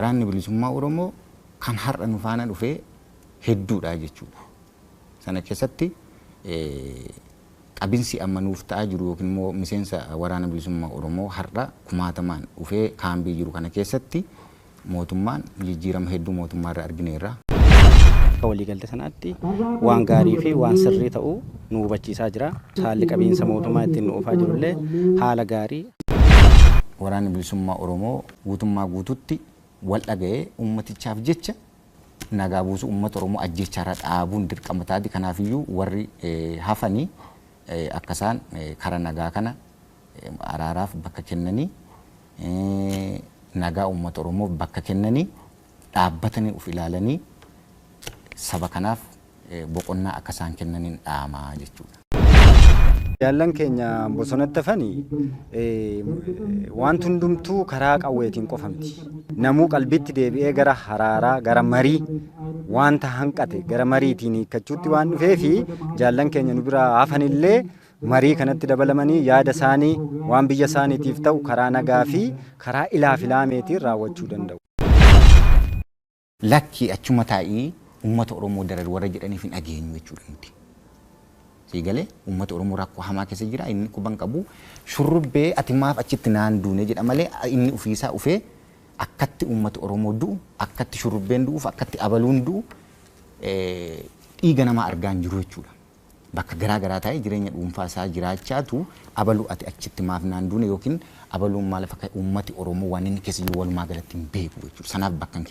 Waraanni Bilisummaa Oromoo kan har'a nu faana dhufe hedduudha jechuudha. Sana keessatti qabinsi amma nuuf ta'aa jiru yookiin immoo miseensa Waraana Bilisummaa Oromoo har'a kumaatamaan dhufee kaambii jiru kana keessatti mootummaan jijjiirama hedduu mootummaa irra argineerra. Akka waliigaltee sanaatti waan gaarii fi waan sirrii ta'u nu hubachiisaa jira. Haalli qabiinsa mootummaa ittiin nu oofaa jiru illee haala gaarii. Waraanni Bilisummaa Oromoo guutummaa guutuutti wal dhaga'ee uummatichaaf jecha nagaa buusuu, uummata Oromoo ajjeechaa irraa dhaabuun dirqama taati. Kanaaf iyyuu warri hafanii akka isaan kara nagaa kana araaraaf bakka kennanii nagaa uummata Oromoof bakka kennanii, dhaabbatanii of ilaalanii saba kanaaf boqonnaa akka isaan kennaniin dhaama jechuudha. Jaallan keenya bosonatti hafani wanti hundumtuu karaa qawweetiin qofa miti. Namuu qalbiitti deebi'ee gara haraaraa, gara marii wanta hanqate gara mariitiin hiikkachuutti waan dhufeefi jaallan keenya nu biraa hafanillee marii kanatti dabalamanii yaada isaanii waan biyya isaaniitiif ta'u karaa nagaa fi karaa ilaafilaameetiin raawwachuu danda'u. Lakki achuma taa'ii uummata Oromoo darari warra jedhaniif hin dhageenyu jechuudha nuti. Sii galee uummata Oromoo rakkoo hamaa keessa jira inni quban qabu shurrubbee ati maaf achitti naan duune jedha malee inni ofiisaa ufee akkatti uummata Oromoo du'u akkatti shurrubbeen du'uuf akkatti abaluun du'u dhiiga namaa argaa hin jiru jechuudha. bakka garaa garaa taa'ee jireenya dhuunfaa isaa jiraachaatu abalu ati achitti maaf naan duune yookiin abaluun maal akka uummati Oromoo waan inni keessa jiru walumaa galatti hin beeku jechuudha. Sanaaf bakka hin